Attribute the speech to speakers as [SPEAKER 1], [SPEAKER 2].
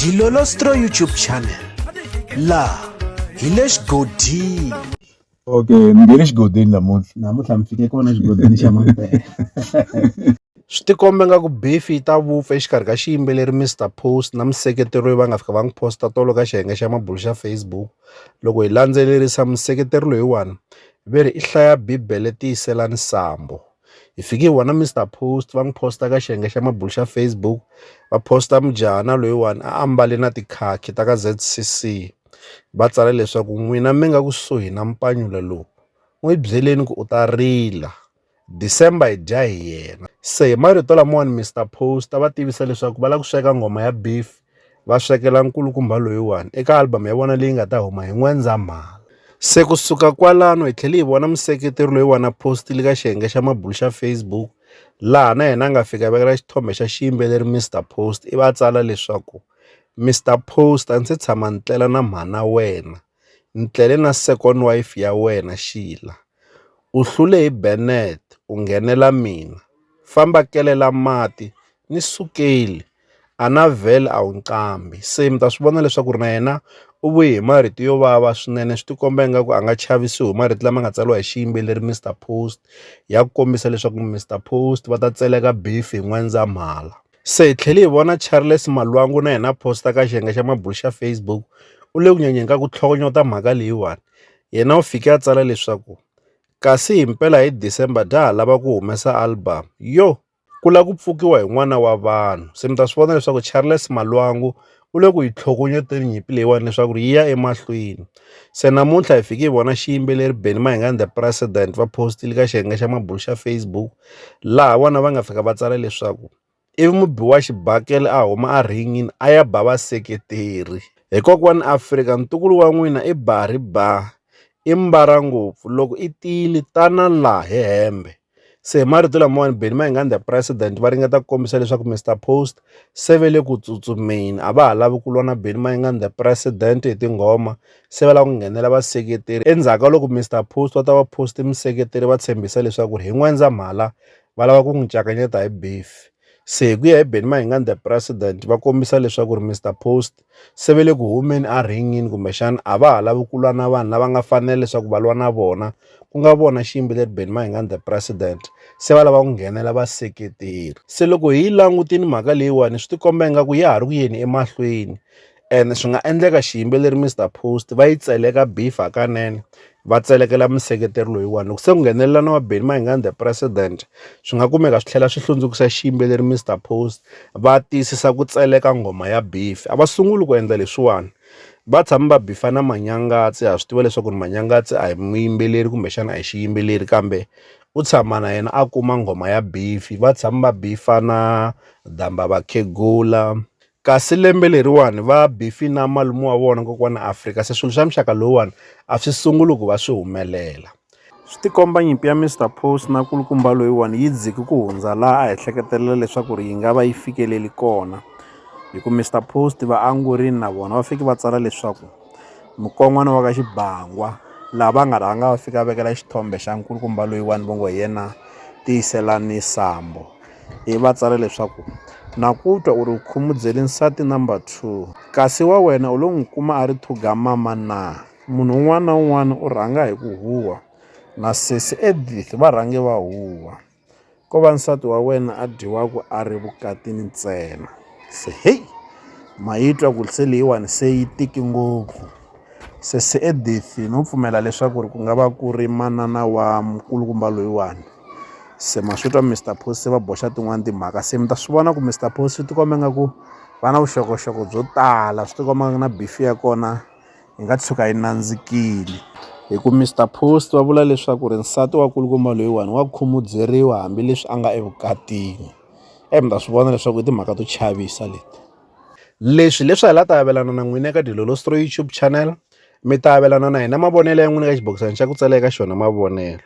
[SPEAKER 1] Dilolostro YouTube channel la hi le xigodini okay ni nge le xigodini namuntlha namuntlha mi fike kona xigodini xa mampela swi tikombe nga ku befi yi ta vupfa exikarhi ka xiyimbeleri mr post na museketeri loyi va nga fika va n'wi posta tolo ka xiyenge xa mabulu xa facebook loko hi landzelerisa museketeri loyiwani ve ri i hlaya bibele tiyiselani sambo hi fike hi vona Mister Post va n'wi posta ka xiyenge xa mabulo xa Facebook va posta mujahana loyiwani a ambale na tikhakhi ta ka Z_C_C va tsala leswaku n'wina mi nga kusuhi na mpanyula lowu n'wi byeleni ku u ta rila December hi dya hi yena se hi marito lamawani Mister Post va tivisa leswaku va lava ku sweka nghoma ya beef va swekela nkulukumba loyiwani eka album ya vona leyi nga ta huma hi N'wendzamhala. Se ku suka kwalano hi tlhele hi vona museketeri loyi wa na postile ka xiyenge xa mabulu xa Facebook laha na yena a nga fika vekela xithombe xa xiyimbeleri Mr Post ivi a tsala leswaku Mr Post a ndzi se tshama ni tlela na mhana wena. Ni tlele na second wife ya wena Sheila. U hlule hi Bennet u nghenela mina. Famba kelela mati ni sukeli. Annavel a wu nqambi se mi ta swi vona leswaku ri na yena u vuye hi marito yo vava swinene swi tikomba ingaku a nga chavisiwi hi marito lama nga tsariwa hi xiyimbeleri Mister Post ya ku kombisa leswaku Mister Post va ta tseleka beef hi N'wendzamhala. Se hi tlhele hi vona Charles Malwangu na yena a posta ka xiyenge xa mabulo xa Facebook u le ku nyenyeni ka ku tlhokonyota mhaka leyiwani. Yena u fike a tsala leswaku, Kasi himpela hi December bya ha lava ku humesa album. Yoh! Ku lava ku pfukiwa hi n'wana wa vanhu. Se mi ta swi vona leswaku Charles Malwangu u le ku yi tlhokovnyeteni nyimpi leyiwani leswaku ri yi ya emahlweni se namuntlha hi fiki hi vona xiyimbeleri Benny Mayengani the president va post-ile ka xiyenge xa mabulo xa Facebook laha vona va nga fika va tsala leswaku ivi mubi wa xibakele a huma a rhingini a ya ba vaseketeri hi kokwani Afrika ntukulu wa n'wina i ba ri ba i mbara ngopfu loko i tiyile tana laha hi hembe. Se hi marito lamawani Benny Mayengani the president va ringeta ku kombisa leswaku Mister Post se ve le ku tsutsumeni a va ha lavi ku lwa na Benny Mayengani the president hi tinghoma se va lava ku nghenela vaseketeri endzhaku ka loko Mister Post va ta va post museketeri va tshembisa leswaku hi N'wendzamhala va lava ku n'wi cakanyeta hi beef. Se hi ku ya hi Benny Mayengani the president va kombisa leswaku ri Mister Post se ve le ku humeni a rhingini kumbexana a va ha lavi ku lwa na vanhu lava nga fanela leswaku va lwa na vona ku nga vona xiyimbeleri Benny Mayengani the president se va lava ku nghenela vaseketeri se loko hi langutini mhaka leyiwani swi tikomba ingaku ya ha ri ku yeni emahlweni ene swi nga endleka xiyimbeleri Mister Post va yi tseleka beef hakanene va tselekela museketeri loyiwani loko se ku nghenelela na wa Benny Mayengani the president swi nga kumeka swi tlhela swi hlundzukisa xiyimbeleri Mister Post va tiyisisa ku tseleka nghoma ya beef a va sunguli ku endla leswiwani va tshama va bifa na Manyangatse ha swi tiva leswaku ri Manyangatse a hi muyimbeleri kumbexana a hi xiyimbeleri kambe u tshama na yena a kuma nghoma ya beef va tshama va bifa na Damba Vakhegula Kasi lembe leriwani va Biffy na malume wa vona kokwana Afrika se swilo swa muxaka lowuwani a swi sunguli ku va swi humelela. Swi tikomba nyimpi ya Mister Post na kulukumba loyiwani yi dziki ku hundza laha a hi hleketelela leswaku ri yi nga va yi fikeleli kona, hi ku Mister Post vaangurini na vona va fiki va tsala leswaku mukon'wana wa ka Xibangwa laha va nga rhanga va fika vekela xithombe xa nkulukumba loyiwani va ngo hi yena Tiyiselani Sambo. hi va tsala leswaku, Na ku twa u ri u khumudzele nsati number two, kasi wa wena u lo n'wi kuma a ri thugamama na? Munhu un'wana na un'wana u rhanga hi ku huhwa, na sesi Edith va rhange va huhwa. Ko va nsati wa wena a dyiwaka a ri vukatini ntsena. Se hei! Ma yi twa ku se leyiwani se yi tiki ngopfu. Sesi Edith no pfumela leswaku ku nga va ku ri manana wa mukulukumba loyiwani. se ma swi twa Mister Post se va boxa tin'wani timhaka se mi ta swi vona ku Mister Post swi tikomba nga ku va na vuxokoxoko byo tala swi tikomba nga ku na beef ya kona yi nga tshuka yi nandzikile hi ku Mister Post va vula leswaku ri nsati wa kulukumba loyiwani wa khumudzeriwa hambileswi a nga evukatini eyi mi ta swi vona leswaku i timhaka to chavisa leti leswi leswi hi la ta avelana na n'wina eka Dilolostro YouTube channel mi ta avelana na hina mavonelo ya n'wina eka xibokisana xa ku tsala eka xona mavonelo